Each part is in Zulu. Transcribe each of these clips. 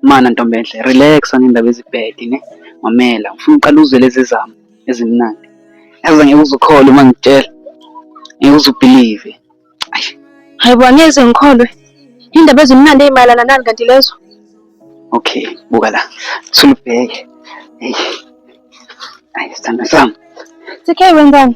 Mana ntombenhle relax ngendaba ezibhedi ne mamela ufuna uqala uzwe lezi zami ezimnandi yazi ngeke uzukholwe uma ngitshela ngeke uzubhilive hayi bo angeze ngikholwe indaba ezimnandi ezimayelana nani kanti lezo okay buka la sulubheke hey ayi sithando sami sikhe wenzani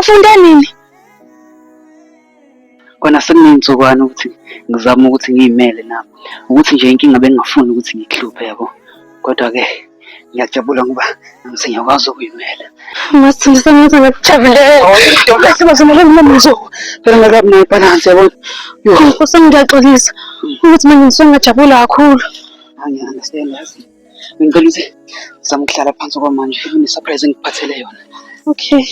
Ufunde nini? Kona sekuney'nsukwana ukuthi ngizame ukuthi ngiy'mele nami. Ukuthi nje inkinga bengingafuni ukuthi ngikuhluphe yabo. Kodwa-ke ngiyajabula ngoba nami sengiyakwazi ukuy'mela. Masithanda sengathi ngikujabulela. Sibazimele mina mzo. Phela ngakabi nayo ibhalansi yabo. Nkosi ngiyaxolisa ukuthi manje ngisuke ngajabula kakhulu. Angiyi-understand yazi. Ngicela ukuthi zama ukuhlala phansi kwamanje une-surprise engikuphathele yona. Okay.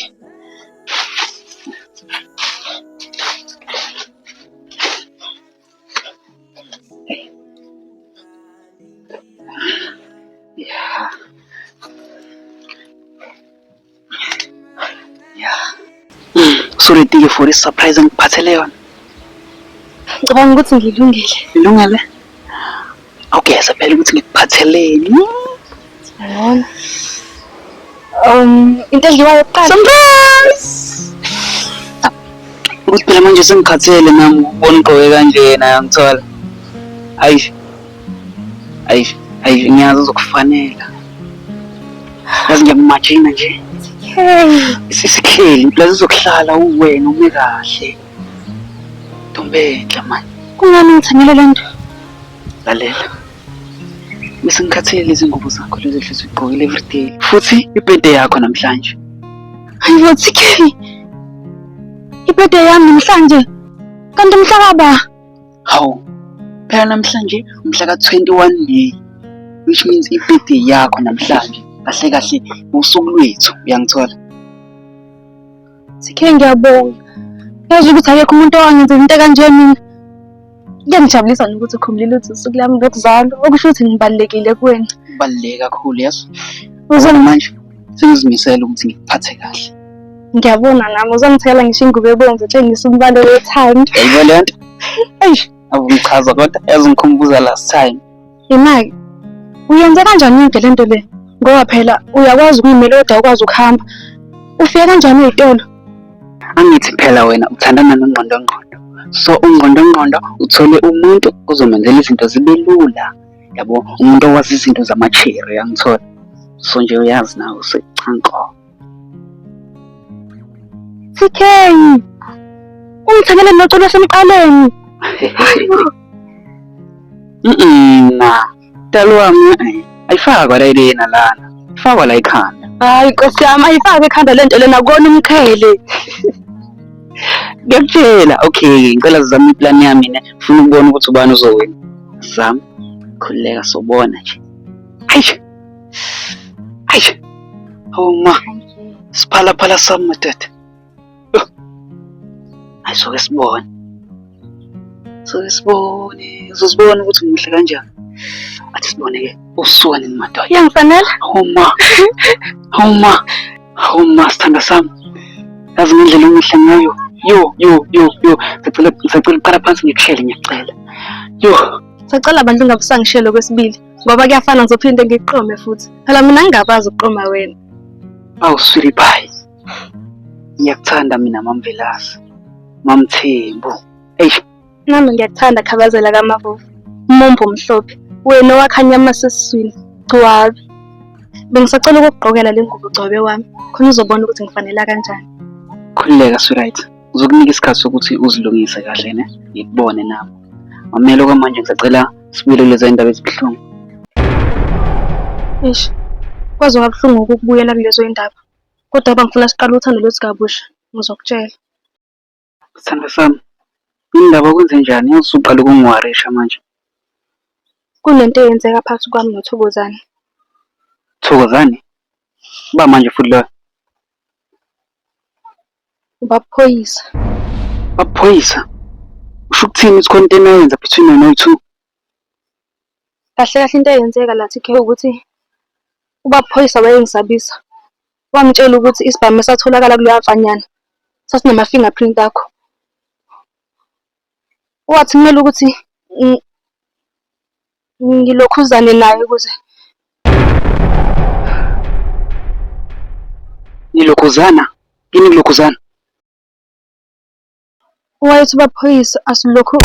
Usuredike for i-surprise engikuphathele yona? Ngicabanga ukuthi ngilungile. Ilungele? Awugeze phela ukuthi ngikuphatheleni. Ngiyabona. Um, into edliwayo kuqala. Surprise! Ukuthi phela manje sengikhathele nami ukubona ugqoke kanjena yangithola. Hayi. Ayi ayi ngiyazi uzokufanela. Yazi ngiyamumajina nje. Hey, Sisikheli, impela uzokuhlala uwena ume kahle. Ntombenhle manje, kungani ngithanyela le nto? lalela. Bese ngikhathele lezi ngubo zakho lezi ehlezi ugqokile everyday. Futhi ibhede yakho namhlanje. Hayi bo TK. Ibhede yami namhlanje. Kanti mhlaba. Hawu, phela namhlanje umhla ka-21 May which means i-birthday yakho namhlanje kahle kahle usuku lwethu uyangithola sikhe ngiyabonga yazi ukuthi akekho umuntu owangenzela into kanje mina kuyangijabulisa nokuthi ukhumbulile ukuthi usuku lami lokuzalwa okusho ukuthi ngibalulekile kuwena kubaluleke kakhulu yazi uzona manje sengizimisele ukuthi ngikuphathe kahle ngiyabona nami uzongithela ngisho ingubo ebomvu utshengisa umbalo wethando yayilo le nto eish akungichaza kodwa ezingikhumbuza last time imaki uyenze kanjani into le nto le ngoba phela uyakwazi ukuyimela kodwa ukwazi ukuhamba ufike kanjani uyitolo angithi phela wena uthandana nongqondongqondo so ungqondongqondo uthole umuntu ozomenzela izinto zibe lula yabo umuntu owazi izinto zama-cherry angithola so nje uyazi nawe usecanko tk ungithengeleni noculo wasemqaleni na mdala wami eh, ayifakwa la ilena lana ifakwa la ikhanda hayi nkosi yami ayifake ekhanda le nto lena kona umqhele ngiyakutshela okay ngicela zizame iplan yami ne funa ukubona ukuthi ubani uzowina zam khululeka sobona nje ayi ayi awuma siphalaphala sami madoda ayisoke sibone so sibone uzosibona ukuthi ngimuhle kanjani athi sibone ke usuka nini madoda iyangifanela homa homa homa sithanda sami yazi ngendlela engihle ngayo yo yo yo yo ngicela ngicela uqala phansi ngikuhlele ngiyacela yo sacela abantu ungabusangishelo kwesibili ngoba kuyafana ngizophinde ngiqome futhi phela mina ngingabazi ukuqoma wena awuswili bhayi ngiyakuthanda mina mamvelasi mamthembu eish nami ngiyakuthanda khabazela kamavovo umumbu omhlophe wena owakhanyama sesiswini gcwabe bengisacela ukukugqokela le ngubo gcwabe wami khona uzobona ukuthi ngifanela kanjani khululeka sweet uzokunika isikhathi sokuthi uzilungise kahle ne ngikubone nami mamele okwamanje ngisacela sibuyele kuleza indaba ezibuhlungu eish kwaze kwabuhlungu ukubuyela kulezo indaba Kodwa baba ngifuna siqale uthando lwethu kabusha. Ngizokutshela. Sithando sami, yini ndaba kwenze njani? Yazi usuqala ukungiwarisha manje. Kunento eyenzeka phakathi kwami noThokozane. Thokozane? Uba manje futhi loyo? Ubaphoyisa. Baphoyisa? Usho ukuthini ukuthi khona into enayenza between wena noyi-two? Kahle kahle into eyenzeka la TK ukuthi ubaba uphoyisa wayengisabisa, wangitshela ukuthi isibhamu esatholakala kuleya mfanyana sasinama-finger print akho. Wathi kumele ukuthi ngilokhuzane naye ukuze Nilokhuzana? Yini nilokhuzana? Wayethi baphoyisa asilokhu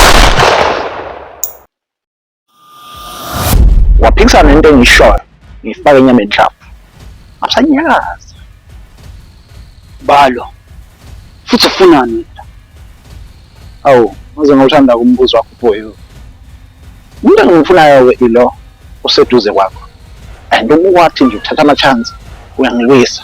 waphikisana nento engiyishoyo ngifake inyama enhlavu asanyazi balo futhi ufunani wena awu maze ngawuthanda umbuzo wakho boy umuntu engimfunayo-ke ilo useduze kwakho and uma wathi nje uthatha ama-chance uyangiwisa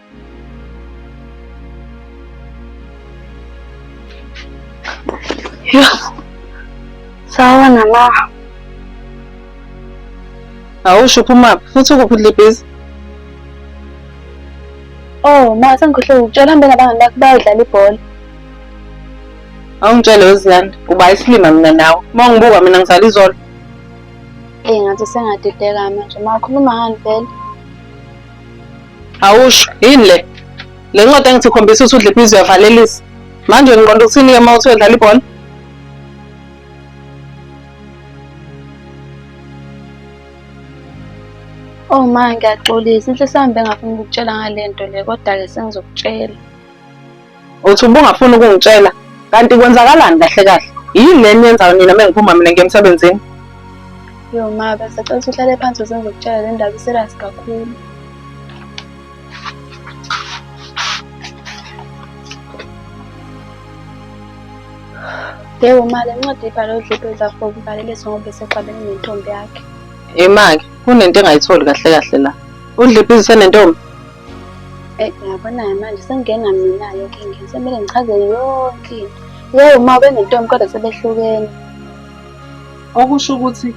Sawa na la. Awusho phuma futhi ukuphi libhizi? Oh, ma sengikhohle ukutshela mbe nabangani bakho bayodlala ibhola. Awungitshele weziyanda, uba isilima mina nawe. Uma ungibuka mina ngisala izolo. Eh, ngathi sengadideka manje. Ma khuluma ngani vele? Awusho yini le? Le ncwadi engithi khombisa ukuthi udle ibhizi uyavalelisa. Manje ngiqonda ukuthini ke uma uthi uyodlala ibhola? Oh ma ngiyaxolisa inhliso yami bengafuni ukukutshela ngale nto le kodwa-ke sengizokutshela. Uthi ubungafuni ukungitshela kanti kwenzakalani kahle kahle? Yini le niyenzayo nina uma ngiphuma mina ngiye emsebenzini? Yo ma, bese cela ukuthi uhlale phansi uze ngizokutshela le ndaba iserasi kakhulu. Yebo ma, le ncwadi ibhale udlipho ezafo kubalelisa ngoba esexabene nentombi yakhe. Yimake, kunento engayitholi kahle kahle la. Udlipho izisenentombi? Eh, uyabona-ke manje sengingena mina-ke enkingeni sekumele ngichaze yonke into yeyi uma ubenentombi kodwa sebehlukene okusho ukuthi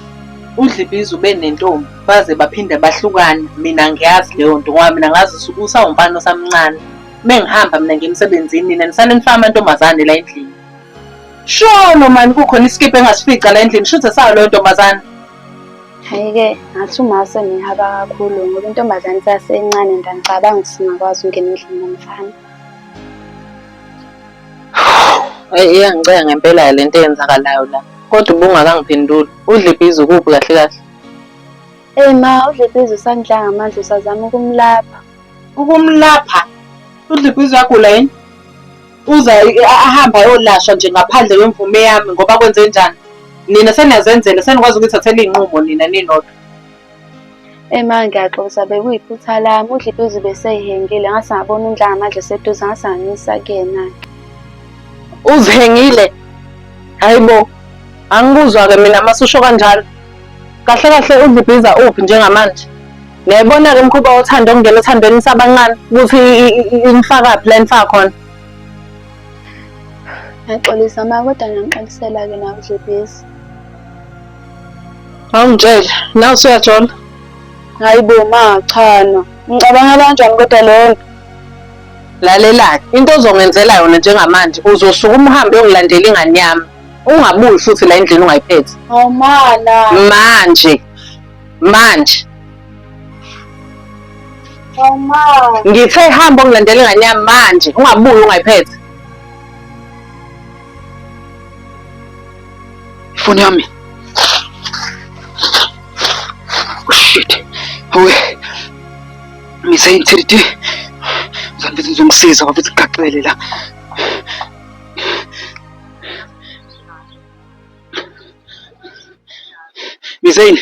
udlibiza ube nentombi baze baphinde bahlukana mina ngiyazi leyo nto ngoba mina ngazi usuke usawumfana osamncane uma ngihamba mina ngemsebenzini nina nisale nifaka amantombazane la endlini sholo mani kukhona isikibha engasifica la endlini shuthe sayo leyo ntombazane Hhayi-ke ngathi umase ngihaba kakhulu ngoba intombazane isasencane and angicabanga ukuthi singakwazi ukungena endlini nomfana. Eyi iyangiceka ngempela le nto eyenzakalayo la. Kodwa ubungakangiphenduli. Udle ibhizi ukuphi kahle kahle? Eyi ma udle ibhizi usangidla ngamandla usazama ukumlapha. Ukumlapha? Udle ibhizi uyagula yini? Uza ahambe ayolashwa nje ngaphandle kwemvume yami ngoba kwenze njani? Nina seniyazenzela senikwazi ukuyithathela iy'nqumo nina ninodwa. Ema ngiyaxolisa bekuyiphutha lami udla iduze beseyihengile ngase ngabona undla ngamadla eseduze ngase nganyisa kuyena ke. Uzihengile? Hayi bo, angikuzwa-ke mina masusho kanjalo. Kahle kahle udla ibhiza uphi njengamanje? Ngiyayibona-ke umkhuba wothando okungena othandweni sabancane ukuthi inifakaphi la nifaka khona. Ngiyaxolisa ma kodwa ngiyanixolisela-ke nawe Dlebhezi. Awungitshele, nawe usuyajola? Hayi bo ma cha no. Ngicabangela kanjani kodwa leyo nto? Lalelani, into ozongenzela yona njengamanje uzosuka umhambe uyokulandela ingane yami. Ungabuyi futhi la endlini ungayiphethe. Awumana. Manje. manje ngithe hamba ungilandela ingane yami manje ungabuyi ungayiphethe ifoni yami oh, shit we ngiseyinthiriti zangithi ngizomsiza wafithi kugaxele la Misail,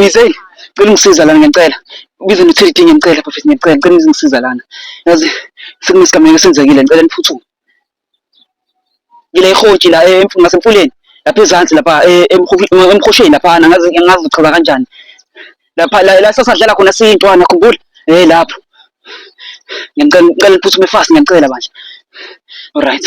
Misail, cela ungisiza lana ngiyacela. Ubize no Teddy ngiyacela bafethu ngiyacela, cela ungisiza lana. Yazi sekunesigameko esenzekile ngicela niphuthume. Ngile ihotshi la eh, emf- ngasemfuleni lapha ezansi lapha eh, emhofi- emhosheni lapha ngazi ngazi uchaza kanjani. Lapha la la sasadlala khona siyintwana khumbula. Eh lapho. Ngiyacela ngicela niphuthume fast ngiyacela bandla. Alright.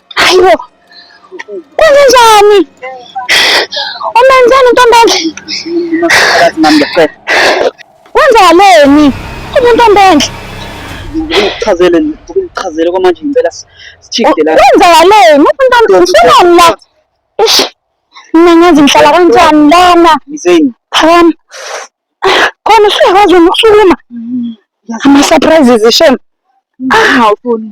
Ayibo. Kwenze njani? Umenzani ntombele? Wenzakaleni? Umuntu ombenhle. Ngichazele ngichazele kwamanje ngicela sichike la. Wenzakaleni? Umuntu ombenhle usunani la? Ish. Mina ngazi ngihlala kanjani lana? Yizeni. Phakama. Khona usuyakwazi ukukhuluma. Mm-hmm. Ama surprises shame. Ah, ufuni.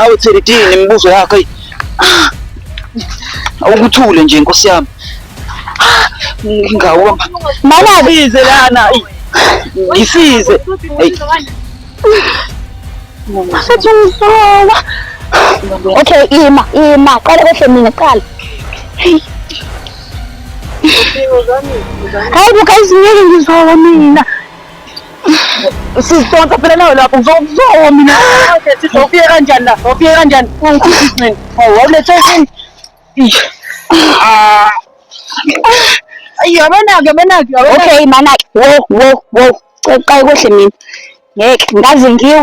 Awu Thelidini imibuzo yakho eyi. Awukuthule nje nkosi yami. Ngawo mama bize lana. eyi. Ngisize. Eyi. Asathi ngisola. Okay, ima, ima. Qala kwehle mina, qala. Hey. Hayi buka izingeke ngizola mina. Sizidonsa phela nawe lapho ngizokuzwa mina. Sizofika kanjani la? Ngofika kanjani? Ungikhipha izinqini. Wawulethe yini? Ish. Ah. Yabona-ke, yabona-ke, yabona-ke. Okay, mana-ke. Wo, wo, wo. Cela uqale kohle mina. Ngeke, ngaze ngiwe.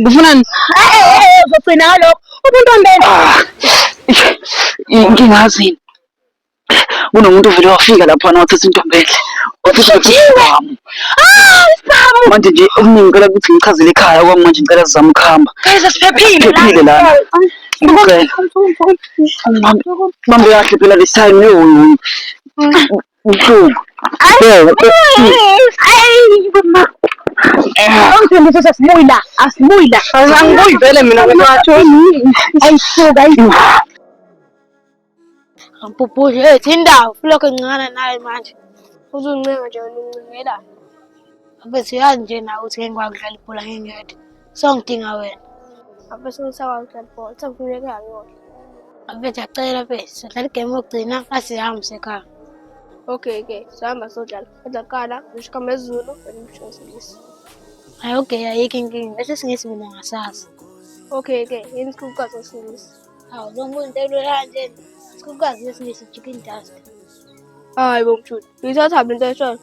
Ngifunani? Eh, eh, eh, eh uzogcina ngalokho. Umuntu onene. Ah, Ngingazini. Kunomuntu uvele wafika lapha na wathatha intombi enhle. Wathatha Utshiwe. isibamu. Ah, isibamu. Manje nje okuningi ngicela ukuthi ngichazele ekhaya kwami manje ngicela sizame ukuhamba. Guys, asiphephile. Phephile lana. Ngicela. Mama kahle phela this time yo. Ubuhlungu. Ungifundisa ukuthi asibuyi la, asibuyi la. Angibuyi vele mina kwethu. Ayisuka, ayisuka. Ampupuli, hey, thindawo, ulokhu encana naye manje. Uzuncenga nje, uncengela. Abethi uyazi nje nawe ukuthi ngeke ngikwazi ukudlala ibhola ngingedwa. Songidinga wena. Abese ngisakwazi ukudlala ibhola. Sengifuna ekhaya ngiyodla. Abethu acela abethu. Sidlala igame yokugcina asihambe sekhaya. Okay ke, sihamba sodlala. Kodwa kuqala ngisho igama lesiZulu and ngisho isiNgisi. Hayi okay ayikho inkinga. Bese singisi mina ngasazi. Okay ke, yini sikhulukazi ngesiNgisi? Hawu lo muntu elula kanje. Sikhulukazi ngesiNgisi chicken dust. Hayi bo mshuni. Ngithatha lento eshoyo.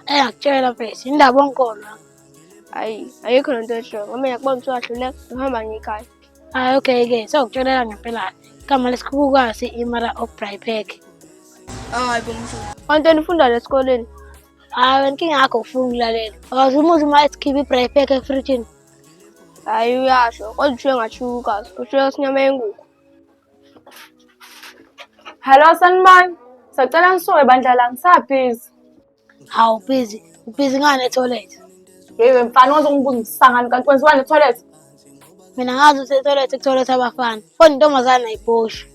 Engakutshela abethu. Indaba onkolo. hayi ayikho lento esho ngoba yakubona ukuthi wahluleka uhamba ngekhaya hayi okay ke sokutshonela ngempela igama lesikhukukazi imara obraypack hayi bomshu onto nifundayo esikoleni hayi wena inkinga yakho ufuna ukulalela akaze umuzi uma esikhiphe ibraypack efrijini hayi uyasho kodwa ushiye ngashukukazi ushiye isinyama yenguku Hello sanibani. Sacela nisuke bandla la ngisabhizi. Hawu ubhizi, ubhizi ngani etoilet? Yewe mfana waze ungibuza isisangano kanti kwenziwani etoilet? Mina ngazi ukuthi etoilet kutoilet abafana. Kodwa intombazane ayibhoshe.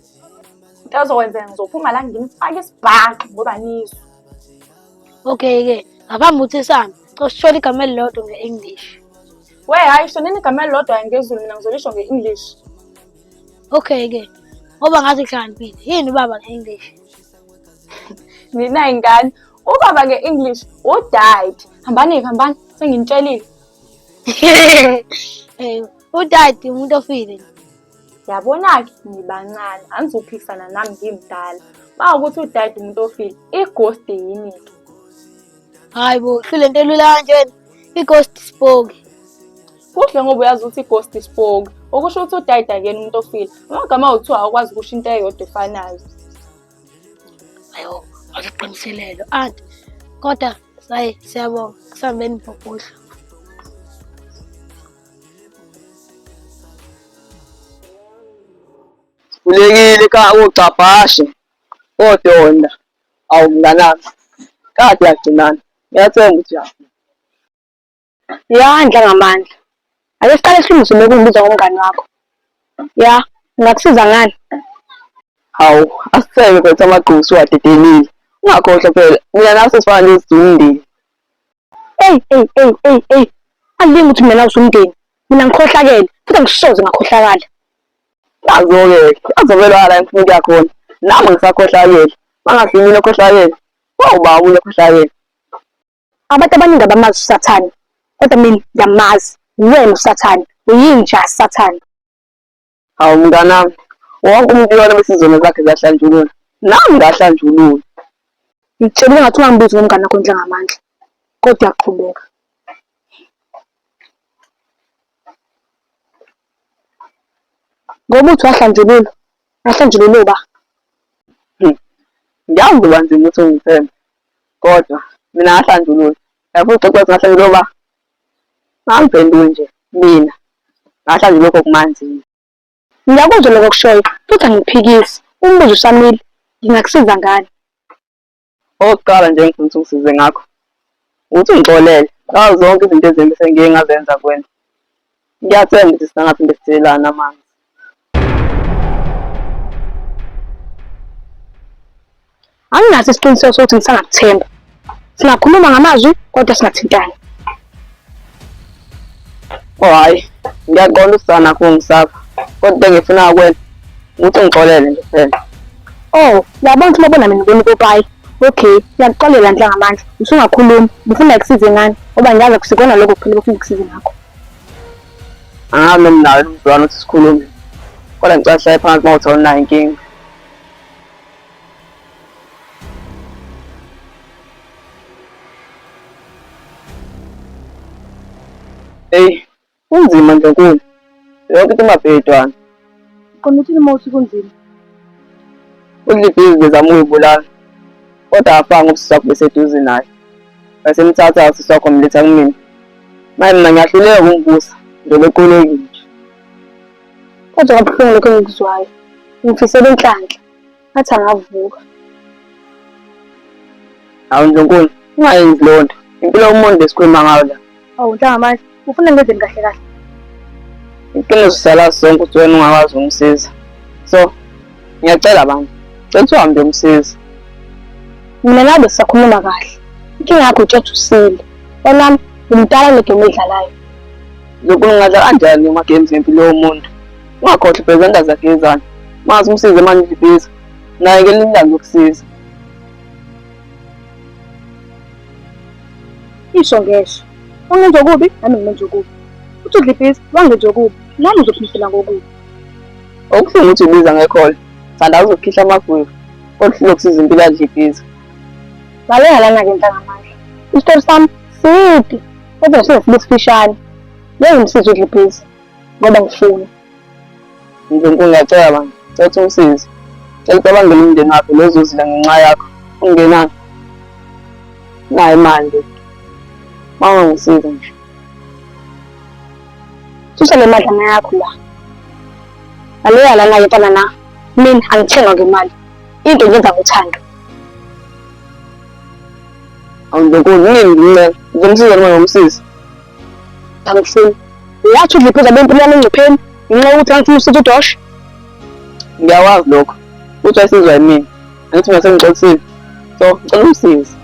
Into ozokwenzeka ngizophuma la ngimfake isibhaxu ngoba nizwe. Okay ke, ngaphambi ukuthi sihambe, cosithola igama elilodwa nge-English. We hayi sho nini igama elilodwa ngezulu mina ngizolisho nge-English. Okay ke, ngoba ngathi hlakaniphile. Yini ubaba nge-English? ninayi ngane ubaba nge-english udad hambani-ke hambani senginitshelile um udad umuntu ofile yabona-ke ngibancane angizophikisana nami ngimdala uma ukuthi udad umuntu ofile igosti yini-ke Hayi bo, hlule nto elula kanjena. I-ghost spoke. Kuhle ngoba uyazi ukuthi i-ghost spoke. Okusho ukuthi udayida kuyena umuntu ofile. Amagama awuthiwa awukwazi ukusho into eyodwa efanayo. Ayo, waziqiniselelo. Anti, kodwa sayi siyabonga kusambeni bhobhodla. Kulekile ka ugcabhashe kodonda Awu mnganami, kade yagcinana. Ngiyathenga ukuthi yafika. Yandla ngamandla. Ake siqale silungise lokhu ngibiza ngomngani wakho. Ya, ngingakusiza ngani? Hawu, asithenge mfethu amagqubu usuwadedelile. Ungakhohlwa phela, mina nawe sesifana nje sidinga umndeni. Eyi, eyi, eyi, eyi, eyi. Alingi ukuthi mina nawe siwumndeni. Mina ngikhohlakele, futhi angisoze ngakhohlakala. Nazo-ke azovele wala ngifuna ukuya khona. Nami ngisakhohlakele. Mangathi yimina okhohlakele. Wawuba wawulo okhohlakele. Abantu abaningi abamazi uSathane. Kodwa mina ngiyamazi. Uwena uSathane. Uyinja Sathane. Hawu mnganami. Wonke umuntu uyona bese izono zakhe ziyahlanjululwa. Nami ngahlanjululwa. Ngitshelile ngathi ungangibizi ngomngane wakho njengamandla. Kodwa uyaqhubeka. Ngoba uthi wahlanjululwa, wahlanjululwa uba. Hmm. Ngiyazi uba nzima ukuthi ungithembe, kodwa mina ngahlanjululwa. Yafuna uxoxa ngahlanjululwa uba angiphenduli nje mina ngahlanjululwa lokho kumanzini. Ngiyakuzwa lokho okushoyo futhi angikuphikisi. Umbuzo usamile, ngingakusiza ngani? Okokuqala nje engifuna ukuthi ungisize ngakho ukuthi ungixolele ngazo zonke izinto ezimbi sengiye ngazenza kuwena. Ngiyathemba ukuthi singangaphinde sithelelane amanzi. Anginaso isiqiniseko sokuthi ngisangakuthemba. Singakhuluma ngamazwi kodwa singathintani. Oh hayi, ngiyaqonda usana kungisapha. Kodwa ngifuna ukwenza ukuthi ngixolele nje phela. Oh, yabona ukuthi lobona mina ngibona upopayi. Okay, ngiyakuxolela nje ngamandla. Usungakhulumi, ngifuna ukusize ngani? Ngoba ngiyazi kusikona lokho kuphela ukuthi ngikusize ngakho. Angazi noma nawe umzwana ukuthi sikhulume. Kodwa ngicela sihlale phansi uma uthola unayo inkinga. Eyi, kunzima Ndlunkulu. Yonke into imabhedwana. Qonda uthini uma uthi kunzima? UDlibhizi bezama ukuyibulala, kodwa afanga ubusisi wakho beseduze naye. Wasemthatha usisi wakho mletha kumina. Manje mina ngiyahluleka ukumvusa, ngizobe equlekile nje. Kodwa kabuhlungu lokho engikuzwayo. Ngifisela inhlanhla. ngathi angavuka awu ndlunkulu ungayenzi loo nto impilo yomuntu esikhuluma ngayo la awu nhlangamazi ufuna ngenzeni kahle kahle iqiniso sala sonke ukuthi wena ungakwazi ukumsiza so ngiyacela bandla cela ukuthi uhambe umsiza mina nabe sisakhuluma kahle inkinga yakho utshetha usile onami ngumdala negemu edlalayo lokhu ngingadla kanjani amagames ngempilo yomuntu ungakhohlwa iphezenda zakhe izana mazi umsize manje libiza naye ke linilanga ukusiza isho ngesho wangenza okubi nami ngimenza okubi uthi udlibhiza wangenza okubi nami uzophindisela ngokubi okuhlungu ukuthi ubiza ngekhola thanda uzokhihla amagwevu kodwa hlulwa kusiza impilo adlibhiza lalela lana-ke ntangamandla isitori sami side kodwa size sibe sifishane ngeke ngimsize udlibhiza ngoba ngifuna Nkulunkulu ngiyacela manje cela ukuthi umsize cela ucabangele umndeni wakhe lozozila ngenxa yakho ungenani nayo imali le uma ungangisiza nje susa le madlana yakho la ngaleya lana ke ntana na mina angithengwa ngemali into ngenza ngothando awundokoni nini ngincela ngizomsiza noma ngomsizi angifuni uyathi udliphiza abempilo yami engcupheni ngenxa yokuthi angifuni usitha udosha ngiyawazi lokho uthi ayisizwa yimina angithi mina sengixolisile so ngicela umsizi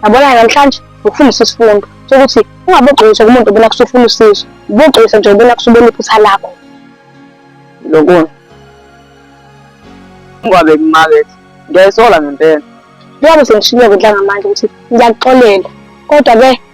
yabona namhlanje ngikufundisa isifundo sokuthi ungabogxilisa kumuntu obona kusufuna usizo ubogxilisa nje ubona kusubona iphutha lakho lokona ungabe kumakethe ngiyayisola ngempela njengoba sengishilo kudla ngamandla ukuthi ngiyakuxolela kodwa-ke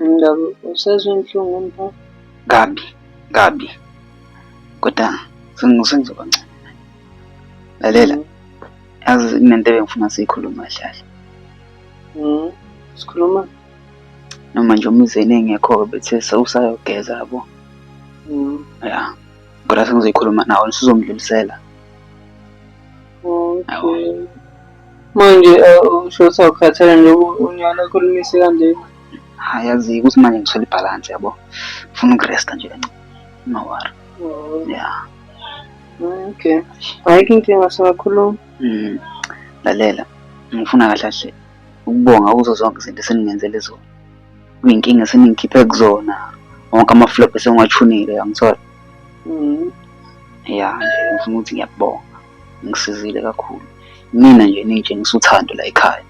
Ngabe usezwe inhlungu mfo? Kabi, kabi. Kodwa sengizoba ngcono. Lalela. Mm. Yazi kunento ebengifuna siyikhuluma hlahla. Mhm. Sikhuluma noma nje umizeni engekho-ke bethe sewusayogeza yabo. Mhm. Ya. Kodwa sengizoyikhuluma nawe, usuzongidlulisela. Okay. Manje usho ukuthi awukhathele nje unyana okhulumise kanjena. Hayi yazi ukuthi manje ngithole ibhalansi yabo. Ngifuna ukuresta nje kancane. Ungawari. Oh. Yeah. Okay. Ayikho inkinga singakhuluma. Mm. Lalela. Ngifuna kahle kahle ukubonga kuzo zonke izinto eseningenzele zona. kuyinkinga seningikhiphe kuzona wonke amaflop esengiwachunile yangithola mm. ya nje ngifuna ukuthi ngiyakubonga ngisizile kakhulu mina nje ningitshengisa uthando la ekhaya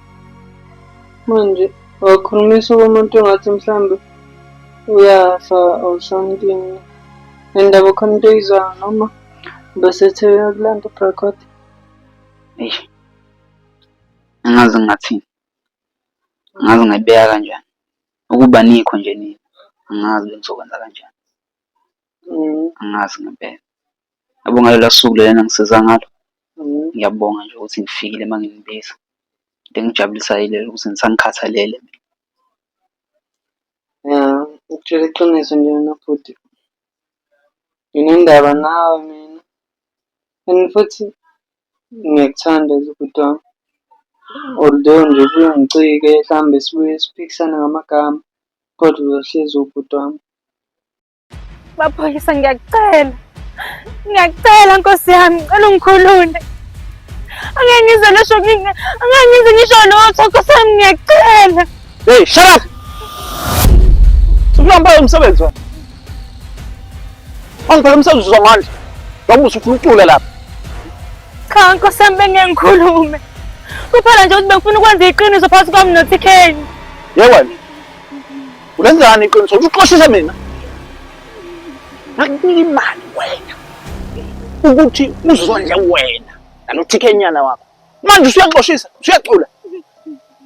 manje wakhulumisa umuntu ongathi mhlawumbe uyafa or something nendaba khona into eyizwayo noma besethe uyakulanda ubrakot eish angazi ngathini angazi ngayibeka kanjani. Ukuba anikho nje nina angazi bengizokwenza kanjani. Angazi ngempela. Yabo ngalolo suku lolo enangisiza ngalo, ngiyabonga nje ukuthi nifikile manginibiza. Into engijabulisayo ilena ukuthi nisanikhathalele. Ya ukutshela iqiniso nje mina bhuti nginendaba nawe mina and futhi Ngiyakuthanda nje bhuti wami. Although nje ubuye ungicike hlambe sibuye siphikisane ngamagama kodwa uzohlezi ubhuti wami. Maphoyisa ngiyakucela. Ngiyakucela Nkosi yami, ngicela ungikhulule. Angeke ngize ngisho angeke ngize ngisho lutho Nkosi yami ngiyakucela. Hey, shut up! Ukulamba umsebenzi wami. Angibheke umsebenzi uzwa manje. Ngoba usufuna ukucula lapha. Cha nkosi yami bengeke ngikhulume. Kuphela nje ukuthi bengifuna ukwenza iqiniso phakathi kwami noTK. Ye wena. Ulenzani iqiniso? Uxoshise mina. Ngakunika imali wena. Ukuthi uzondle wena nalo TK nyana wakho. Manje usuyaxoshisa, usuyacula.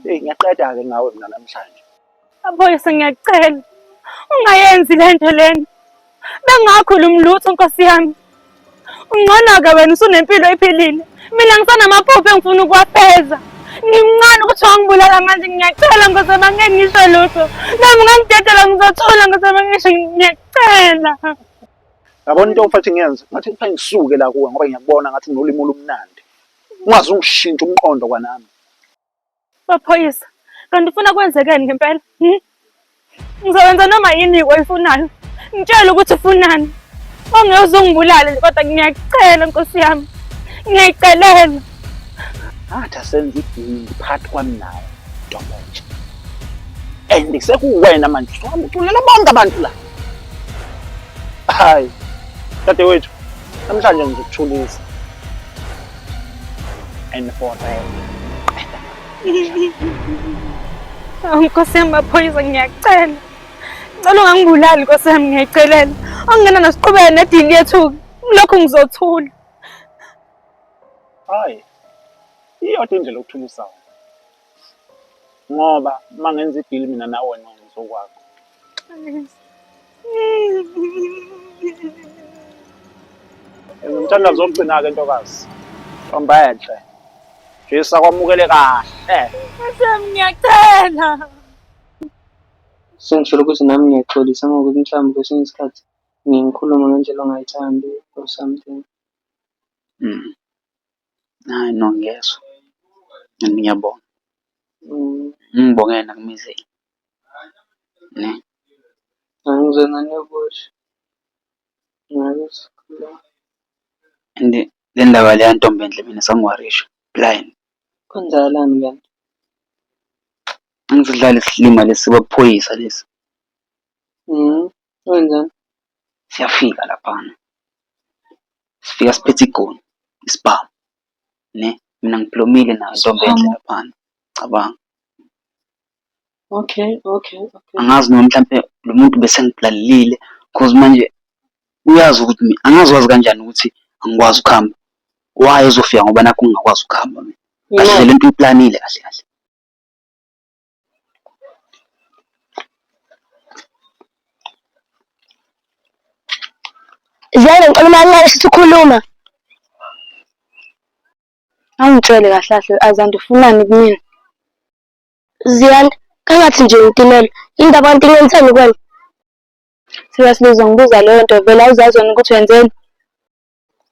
Hey ngiyaqeda ke ngawe mina namhlanje. Aboyise ngiyacela ungayenzi le nto lena bengakhulumi lutho nkosi yami ungcono-ke wena usunempilo ephilile mina ngisanamaphupho engifuna ukuwafeza ngimncane ukuthi wangibulala manje ngiyacela ngosema ngeke ngisho lutho nami ngangidedela ngizothula ngosema ngisho ngiyacela yabona into mfathi ngiyenze ngathi kuthiwa ngisuke la kuwe ngoba ngiyakubona ngathi unolimi olumnandi ungaze ungishintshe umqondo kwanami Maphoyisa, kanti ufuna kwenzekeni ngempela? Hmm? Ngizokwenza noma yini oyifunayo. Ngitshele ukuthi ufunani. Ongeke uzongibulale nje kodwa ngiyacela nkosi yami. Ngiyayicelela. Athi asenze idingi phakathi kwami nawe ntombonje. And sekuwena manje usuhamba uculela bonke abantu la. Hayi. Dadewethu, namhlanje ngizokuthulisa. Aynı Ford Rail. Nkosi yami maphoyisa ngiyacela. Ngicela ungangibulali Nkosi yami ngiyacelela. Angena nasiqhubeke nedili yethu lokho ngizothula. Hayi. Iyodwa indlela okuthula usawu. ngoba uma ngenza idili mina nawe ngenza okwakho ngimthanda zokugcina-ke ntokazi hamba enhle jisa kwamukele kahle Sam ngiyacela sengisholo ukuthi nami ngiyaxolisa ngokuthi mhlawumbe kwesinye isikhathi ngikhulume ngendlela ongayithandi or something Mm. Hhayi no ngiyezwa and ngiyabonga. Ngibongele nakumizeni . And le ndaba le yantomb'enhle mina sangiwarisha blind. Kwenzakalani kanti? Angithi kudlala isilima lesi samaphoyisa lesi. Wenzani? Siyafika laphana. Sifika siphethe igoli, isibhamu. Ne? Mina ngiblomile nayo intombi enhle laphana. Cabanga. Okay, okay, okay. Angazi noma mhlampe lo muntu bese ngiblalelile cause manje uyazi ukuthi mina angazi wazi kanjani ukuthi angikwazi ukuhamba. Why ezofika ngoba nakhu ngingakwazi ukuhamba mina? Kahle le nto uyiplanile kahle kahle. Ziyane ngicela uma nqala sithi ukhuluma. Awungitshele kahle kahle azanti ufunani kumina. Ziyane kangathi nje ngitimela into abantu ngenzeni kwena. Seriously uzongibuza leyo nto vele awuzazi wena ukuthi wenzeni.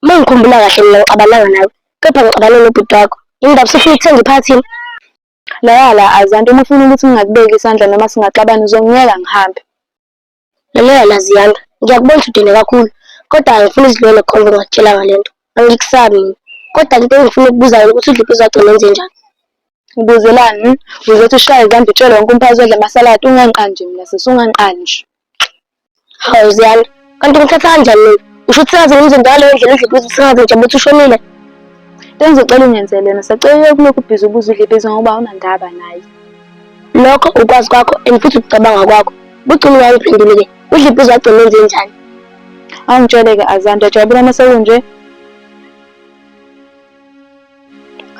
Uma ngikhumbula kahle mina ngicabananga nawe kepha ngicabane nobhuti wakho. Indaba sifuna ukuthenga iphathini. Laya la Azanto uma ufuna ukuthi ngingakubeki isandla noma singaxabana uzongiyeka ngihambe. Lalela la Ziyanda, ngiyakubona ukuthi udele kakhulu kodwa angifuni uzilwele khona ngakutshela ngale nto. Angikusabi mina. Kodwa into engifuna ukubuza yona ukuthi uDliphi uzogcina enze njani? Ubuzelani? Uzothi ushaya izandla utshele wonke umphakathi odla amasaladi ungangiqali nje mina sisi ungangiqali nje. Hawu Ziyanda, kanti ngithatha kanjani mina? Usho ukuthi sengaze ngimze njalo ngale ndlela udle ibhizi sengaze nje ukuthi ushonile. Bengizocela ungenzele yona, sacela ukulokhu ubhizi ubuza udle ibhizi ngoba awunandaba naye. Lokho ukwazi kwakho and futhi ukucabanga kwakho. Bugcina ungangiphenduli ke. Udle ibhizi wagcina enze njani? Awungitshele-ke Azanda, jabula uma sekunje.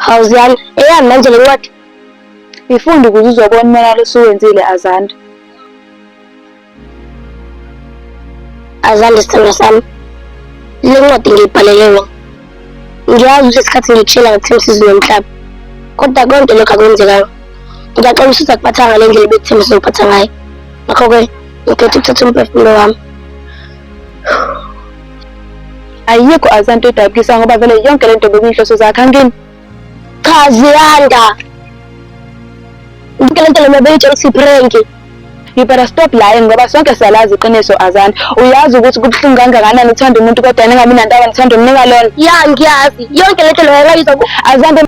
Hawuziyani, eyani manje le ncwadi? Yifunde ukuze uzobona umonakalo osuwenzile Azanda. Azanda sithando sami, le ncwadi ngiyibhalele wena. Ngiyazi ukuthi isikhathi ngikushela ngakuthemba usizo nomhlaba, kodwa konke lokhu akwenzekanga. Ngiyaxola ukuthi uzakuphatha ngale ndlela ebekuthemba uzokuphatha ngayo. Ngakho-ke ngikhetha ukuthatha umphefumulo wami. ayikho azanto edabukisa ngoba vele yonke lento bekuyinhloso zakhe angini cha ziyanda yonke lento lena beyitshela ukuthi prank you better stop lying ngoba sonke siyalazi iqiniso azanto uyazi ukuthi kubuhlungu kangakanani uthanda umuntu kodwa ningabi nantaba nithanda umnika lona ya ngiyazi yonke lento leyo yayizwa azanto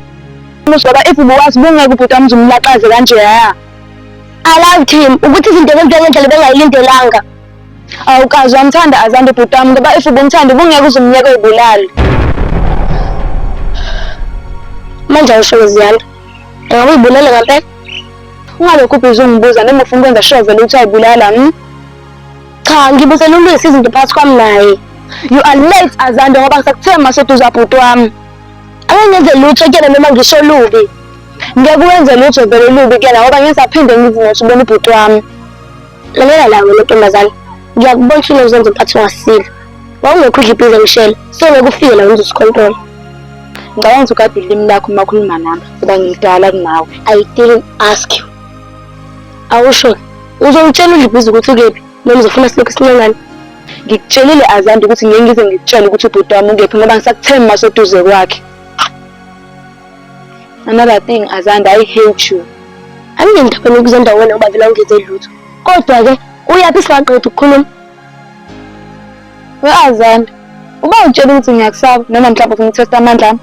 ngoba if ubuwazi bungeke ubhuti wami uzumlaxaze kanje ya alazi team ukuthi izinto zenzeka ngendlela bengayilindelanga Awukazi wamthanda azande bhuti wami ngoba if ubumthanda ubungeke uzumnyeke ubulali. Manje awusho Ziyanda. Engabe uyibulele ngempela? Ungalokhu ubhizi ungibuza noma ufuna ukwenza sure vele ukuthi ayibulala. Hmm? Cha ngibuzela ulwisa izinto phakathi kwami naye. You are late Azande ngoba ngisakuthe maseduza bhuti wami. Ake ngenze lutho kuyena noma ngisho lubi. Ngeke wenze lutho vele lubi kuyena ngoba ngisaphinde ngizimothi ubona ubhuti wami. lalela la wena ntombazane ngiyakubona ushilo uzenza mphathi ungasile wawungekho udla ibhiza ngishela sengeke ufike la wenza usikhontola ngicabanga ukuthi ukade ulimi lakho uma ukhuluma nami kuba ngimdala kunawe i didn't ask you awusho uzongitshela udla ibhiza ukuthi ukephi noma uzofuna silokhu sincengane ngikutshelile azandi ukuthi ngeke ngize ngikutshele ukuthi ubhuti wami ukephi ngoba ngisakuthembi maseduze kwakhe Another thing Azanda I hate you. Anginendaba nokuzenda wena uba vele ungenze lutho. Kodwa ke uyaphi singaqeda ukukhuluma? We-Azanda, uba utshela ukuthi ngiyakusaba noma mhlawumbe ukungithesta amandla ami.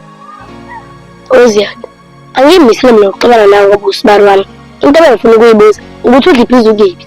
Oziyanda, angiyimisile mina ukuxabana nawe ngoba usibari wami. Into ebengifuna ukuyibuza ukuthi udla ibhizi ukephi?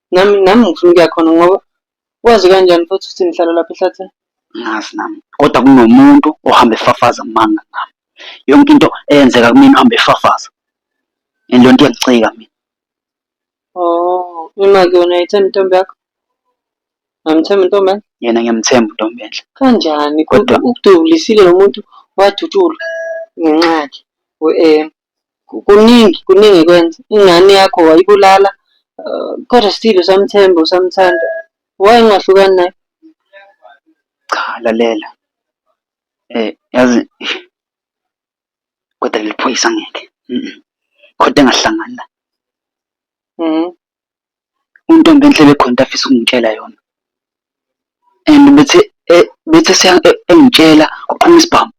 Nami nami ngifuna ukuya khona ngoba wazi kanjani futhi ukuthi ngihlala lapha ehlathini. Ngazi nami. Kodwa kunomuntu ohamba efafaza amanga ngami. Yonke into eyenzeka kumina uhamba efafaza. And leyo nto iyangicika mina. Oh, imake wena ayithembi intombi yakho? Ngamthemba intombi yakho? Yena ngiyamthemba intombi enhle. Kanjani? Kodwa Kodwa- ukudubulisile lo muntu wadutshulwa ngenxa yakhe. We-em. Kuningi kuningi ekwenza ingane yakho wayibulala kodwa still usamthemba usamthanda. Why ungahlukani naye? Cha lalela yazi koda leli phoyisa ngeke koda engahlangani naye . uNtombenhle bekhona into afisa ukungitshela yona and bethe bethi engitshela kuqhuma isibhamu.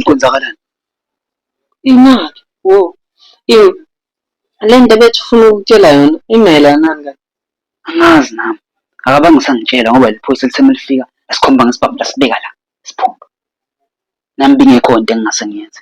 Kwenzakalani? Imali, wo. Yini? Le nto bethi ufuna ukutshela yona imayelanani kanti? Angazi nami. Akabange usangitshela ngoba liphoyisa lithe uma lifika lasikhomba ngesibhamu lasibeka la, siphuma. Nami bingekho into engingase ngiyenze.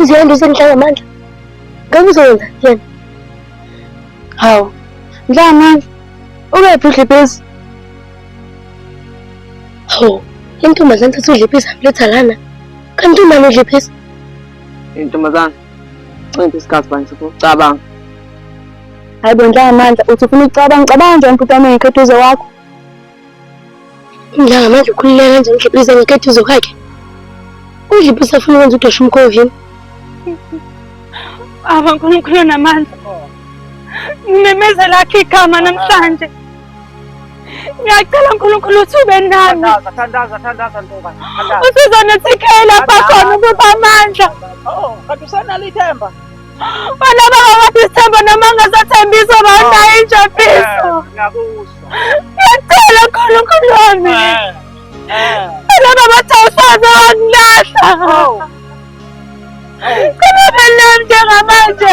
Uziyanda usengihlala amandla. Ngeke uzoyenza yena. Hawu. Ngidla amandla. Ungephi udlipezi? Hawu, intombazane thatha udliphisa mletha lana. Kanti umani udliphisa? Intombazane, ncipha isikhathi bani sokucabanga. Hayi bo Ndlangamandla, uthi ufuna ukucabanga, ucabanga njani bhuti wami ngekhetha uze wakho? Ndlangamandla ukhululeka kanjani udliphisa ngekhetha uze kwakhe? Udliphisa afuna ukwenza udosha umkhovini. Baba uNkulunkulu namandla. Ngimemezela akhe igama namhlanje. Ngiyacela uNkulunkulu uthi ube nami. Thandaza, thandaza, thandaza ntoba. Thandaza. Usizonithikela bakhona ukuba amandla. Oh, kanti usenalo ithemba. Wena baba wathi isithemba noma ngasathembisa bana oh, injabiso. Eh, ngiyakuzwa. Ngiyacela uNkulunkulu wami. Eh, eh. Wena baba wathi awusaze wangilahla. Oh. Kana belem njengamanje.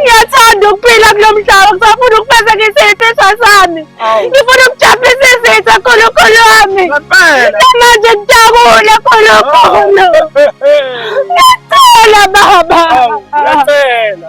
ngiyathanda ukuphila kulo mhlaba ngisafuna ukufezekisa izifiso sami ngifuna ukujabulisa izitha khulukhulu wami namanje ngidakule khulukhulu ngiyacela baba ngiyacela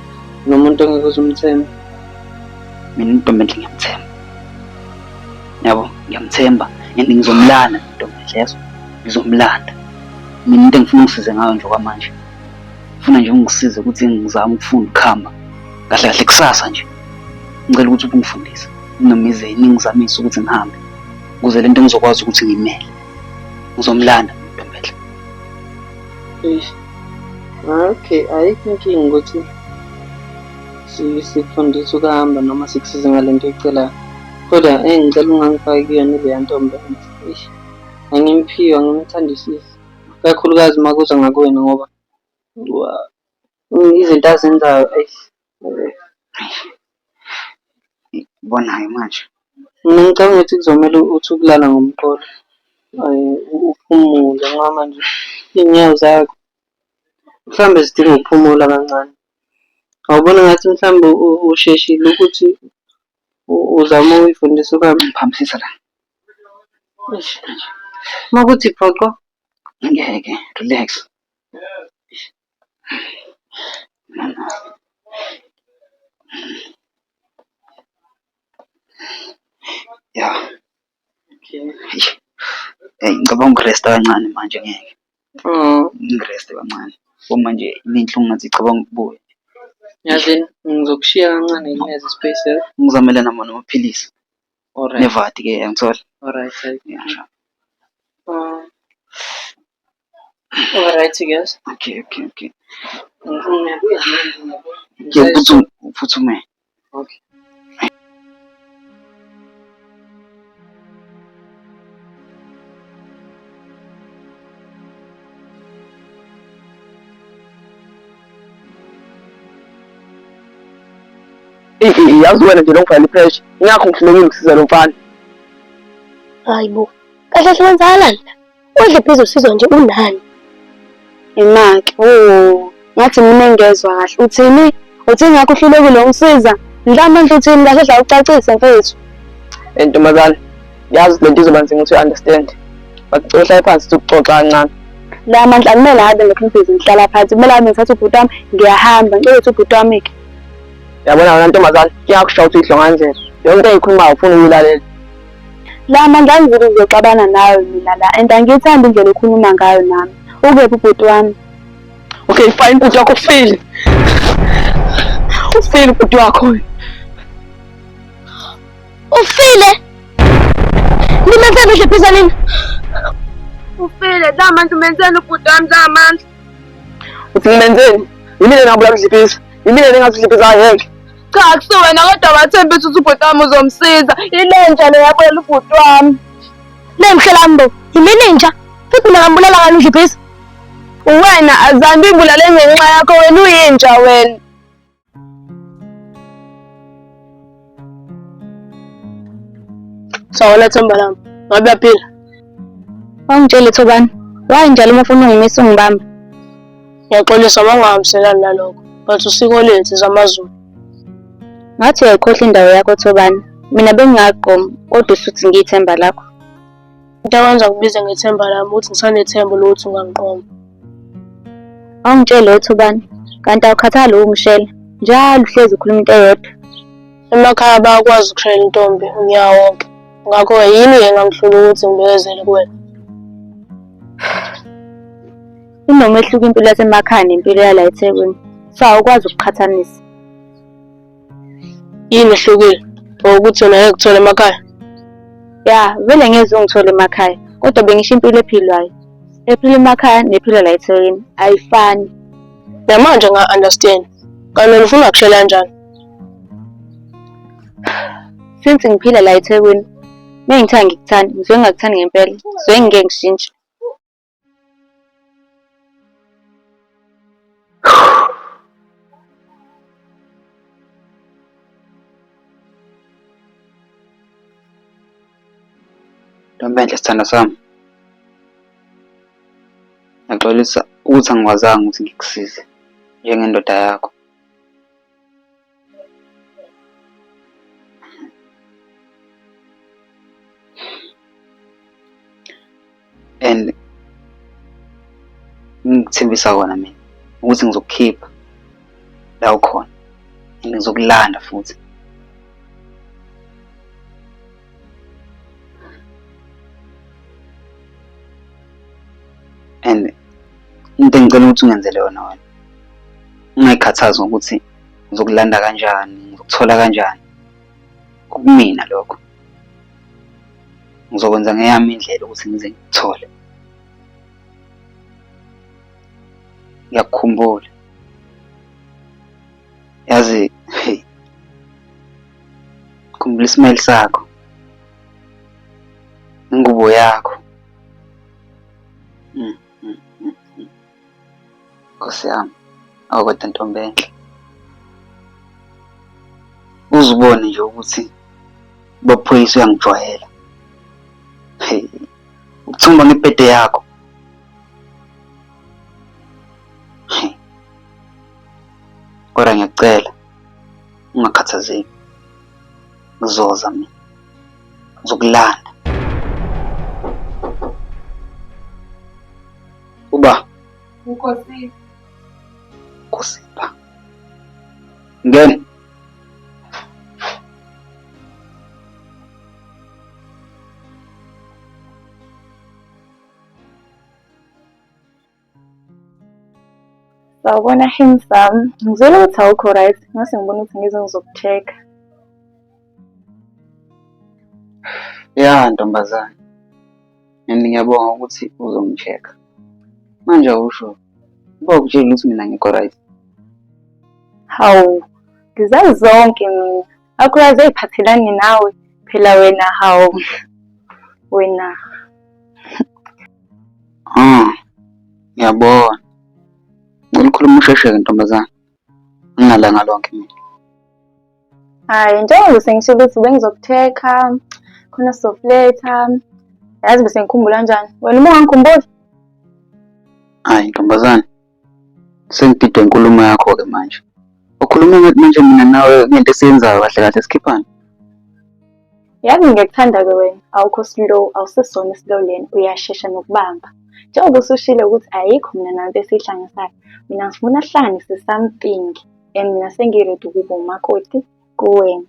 Nomuntu engeke uze umthembe. Mina intombi enhle ngiyamthemba. Yabo, ngiyamthemba and ngizomlanda intombi enhle yazo. Ngizomlanda. Mina into engifuna ungisize ngayo nje kwamanje. Ngifuna nje ungisize ukuthi ngizame ukufunda ukuhamba. Kahle kahle kusasa nje. Ngicela ukuthi ubungifundise. Noma ize ningizamise ukuthi ngihambe. Ukuze lento ngizokwazi ukuthi ngimele. Ngizomlanda intombi enhle. Eish. Ah, okay ayikho inkinga ukuthi sikufundisa ukuhamba noma sikusize ngale nto oyicelayo kodwa eyi ngicela ungangifaki kuyona ileya ntombi angimphiwa ngimthandisisi kakhulukazi uma kuza ngakuwena ngoba izinto azenzayo eyi Ikubona-ke manje. Mina ngicabanga ukuthi kuzomele uthi ukulala ngomqolo uphumule ngoba manje iy'nyawo zakho mhlawumbe zidinga ukuphumula kancane. Awuboni ngathi mhlawumbe usheshile ukuthi uzame ukuyifundisa ukuhamba? Ngiphaphamisa la. Eish eish. Uma kuthi phoqo, ngeke, relax. ya Eyi, ngicabanga ukuresta kancane manje ngeke Oh, ngireste kancane so manje inenhlungu ngathi icabanga ukubuya yazi ngizokushiya kancane ngineze space eh? ngizamele namo namaphilisi Alright, nevati ke yangithola alright, alright. Yeah, sure. Oh. Alright guys. Okay, okay, okay. Ke putsu putsu me. Okay. yazi wena nje longifana ipressure ingakho ngihlulekile ukusiza lo mfana hayi bo kahle hle wenzakala la Udle phezulu usizwa nje unani? Imake. Oh, ngathi mina engezwa kahle. Uthini? Uthini ngakho uhlulekile ungisiza? Mhlawumbe nje uthini kahle dla ucacise mfethu. Eh ntombazane, yazi lento izoba nzima ukuthi understand. But ngicela uhlale phansi sikuxoxa kancane. La mandla kumele abe ngekhumphezi ngihlala phansi. Kumele abe ngithatha ubhuti wami ngiyahamba. Ngicela ukuthi ubhuti wami ke. Yabona wena ntombazane, kuyakushawa ukuthi idlonga nje. Yonke into eyikhulumayo ufuna uyilalela. La mandla angizuku kuzoxabana nayo mina la and angiyithandi indlela okhuluma ngayo nami. Ukephi ubhuti wami? Okay fine bhuti wakho ufile. Ufile ubhuti wakho. Ufile? Nimenzeni nje phezu nini? Ufile, la mandla umenzeni ubhuti wami la mandla. Uthi ngimenzeni? Yimina nabula mdliphiza. Yimina nengasidliphiza ngeke. Cha akusiwena kodwa wathembisa ukuthi ubhuti wami uzomsiza. Ilenja le yabuyela ubhuti wami. Lemhlelambo, yimini inja. Futhi mina ngambulala ngani udliphisa? Uwena azambi ibulale ngenxa yakho wena uyinja wena. Sawona themba lami. Ngabe uyaphila? Wangitshela Thobani. Why njalo uma ufuna ungimisa ungibamba? Ngiyaxolisa uma ungahambiselani nalokho, but usiko lethu zamaZulu. Ngathi uyayikhohla indawo yakho Thobani. Mina bengingaqomi kodwa usuthi ngiyithemba lakho. Into akwenza kubize ngethemba lami ukuthi ngisanethemba lokuthi ungangiqoma. Awungitshele lutho Thobani, kanti awukhathali ukungishela. Njalo uhlezi ukhuluma into eyodwa. Emakhaya bayakwazi ukushayela intombi unyaka wonke. Ngakho-ke yini-ke engangihlula ukuthi ngibekezele kuwena? Kunomehluko impilo yasemakhaya nempilo yala eThekwini. So awukwazi ukuqhathanisa. Yini ehlukile? Or ukuthi yona ngeke kuthole emakhaya? Ya, vele ngeze ungithole emakhaya. Kodwa bengisho impilo ephilwayo. Ephila emakhaya nephila la eThekwini ayifani. Namanje nga-understand. Kanti wena ufuna kushela kanjani? Since ngiphila la eThekwini, mengithe angikuthandi, ngizwe ngingakuthandi ngempela. Ngizwe ngingeke ngishintshe. Ntombenhle sithanda sami, ngiyaxolisa ukuthi angikwazanga ukuthi ngikusize njengendoda yakho. and ngikuthembisa kona mina ukuthi ngizokukhipha la ukhona and ngizokulanda futhi and into engicela ukuthi ungenzele yona wena ungayikhathazi ngokuthi ngizokulanda kanjani ngizokuthola kanjani kumina lokho ngizokwenza ngeyami indlela ukuthi ngize ngikuthole ngiyakukhumbula yazi hey khumbula isimile sakho ingubo yakho Nkosi yami, awukodwa ntombi enhle. Uzibone nje ukuthi baphoyisa uyangijwayela. Hey, ukuthumba ngepete yakho. Hey. Kodwa ngiyakucela ungakhathazeki. Ngizoza mina. Ngizokulanda. Uba. Nkosi. Nkosimba. Ngena. Sawubona handsome. Ngizwile ukuthi awukho right. Ngase ngibona ukuthi ngize ngizokucheck-a. Ya ntombazane. and ngiyabonga ukuthi uzongi-check-a manje awusho uba ukutshela ukuthi mina ngikho right hawu ngizazi zonke mina akulazi ey'phathelani nawe phela wena hawu wena ah ngiyabona ngilikhuluma usheshe-ke ntombazane ngingalanga lonke mina hayi njengoba sengishilo ukuthi bengizokuthekha khona sizokuletha yazi bese ngikhumbula njani wena uma ungangikhumbuli hayi ntombazane sengididwe inkulumo yakho-ke manje ukhuluma ngathi manje mina nawe ngento esiyenzayo kahle kahle sikhiphane Yazi ngiyakuthandaza wena awukho slow awusisona islow lena uyashesha nokubamba njengoba usushile ukuthi ayikho mina nanto esiyihlanganisayo mina ngifuna sihlanganise something and mina sengiredi ukuba umakoti kuwena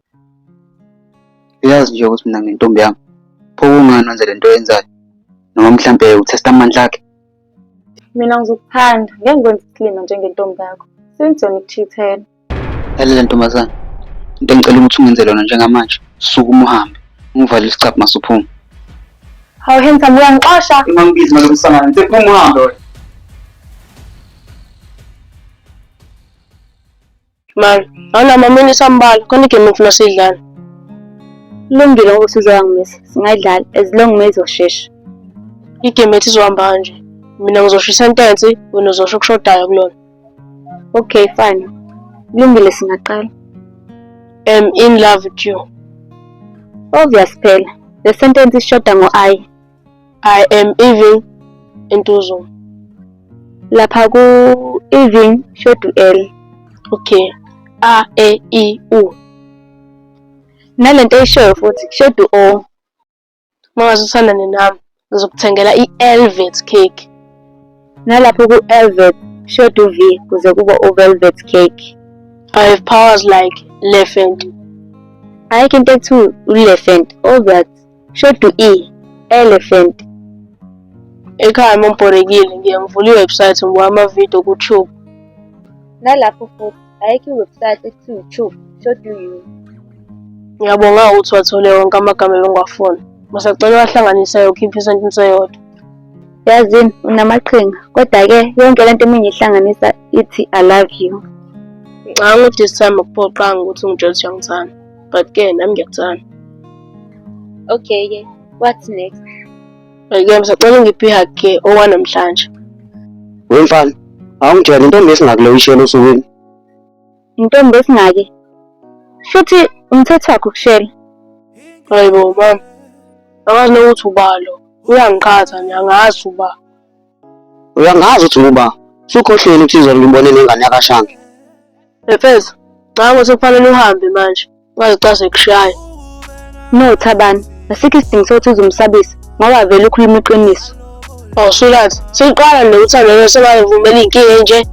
uyazi nje ukuthi mina ngintombi yami pho kungani wenze le nto yenzayo noma mhlampe uthesta amandla akhe mina ngizokuthanda ngeke ngikwenze isilima njengentombi yakho since yona ikuchithela Lalela ntombazana, into engicela ukuthi ungenze lona njengamanje, suka uma uhambe, ungivale isicabha masuphuma. Hawu handsome uyangixosha. Uma ngibizi ngalo msangano, ngithe phuma uhambe wena. Mama, awuna mama unisambala, khona igame ngifuna sidlale. Kulungile ukuthi uzoya ngimisa, singayidlali as long uma izoshesha. Igame ethi izohamba kanje. Mina ngizoshisa intensi, wena uzosho okushodayo kulona. Okay, fine. Kulungile singaqala. Am in love with you. Obvious phela. Le sentence ishoda ngo I. I am even entuzuma. Lapha ku even shodu L. Okay. A E I U. Nalento ishoyo futhi shodu O. Mawase usandane nami ngizokuthengela i-elvet cake. Nalapho ku-elvet short uv kuze kuba uvelvet cake. I have powers like lefent. Ayikho into ethi ulefent ovet short u-e elephant. Ekhaya uma ngibhorekile ngiye ngivula iwebsite ngibuka amavidiyo kuTube. Nalapho futhi ayikho iwebsite ekuthiwa iTube so do you ngiyabonga ukuthi wathole wonke amagama ebengwafuna masacela wahlanganisa yokhipha isentence eyodwa yazini unamaqhinga kodwa-ke yonke le nto eminye ihlanganisa ithi i love you ngicabanga ukuthi this time akuphoqanga ukuthi ungitshela ukuthi uyangithanda but-ke nami ngiyakuthanda okay-ke what's next Ngeke ngisacela ungiphe ihug ke owanamhlanje. We mfana, awungitshela intombi esingakule uyishela osukwini. Intombi esingake. Futhi umthetho wakho ukushela. Hayibo mama. Akazi nokuthi ubalo. Uyangiqhatha nje angazi uba. Uyangazi ukuthi nguba. Sukhohlweni ukuthi izolo ngimbone nengane yakashanga. Efeza, cha ukuthi kufanele uhambe manje. Ungazicase kushaye. No Thabani, asikho isidingo sokuthi uzumsabisa ngoba vele ukhuluma iqiniso. Oh Sulathi, siqala lo uthando lo sebayivumela inkinga enje.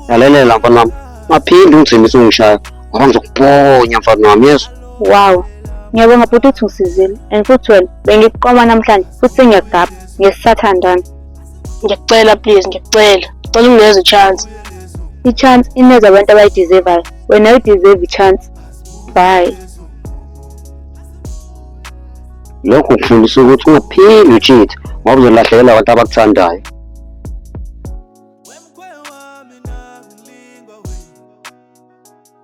Yalelela mfana wami. Maphinde ungithembise ungishaya. Ngoba ngizokuponya mfana wami yezwa. Wow. Ngiyabonga bhuti ukuthi ungisizile and futhi wena bengikuqoma namhlanje futhi sengiyakugabha. ngesisathandana ngiyakucela please ngiyakucela cela ungineze chance i-chance ineza abantu abayideservayo wena udeserve i-chance bye lokhu kufundisa ukuthi ungaphili ucheat ngoba uzolahlekela abantu abakuthandayo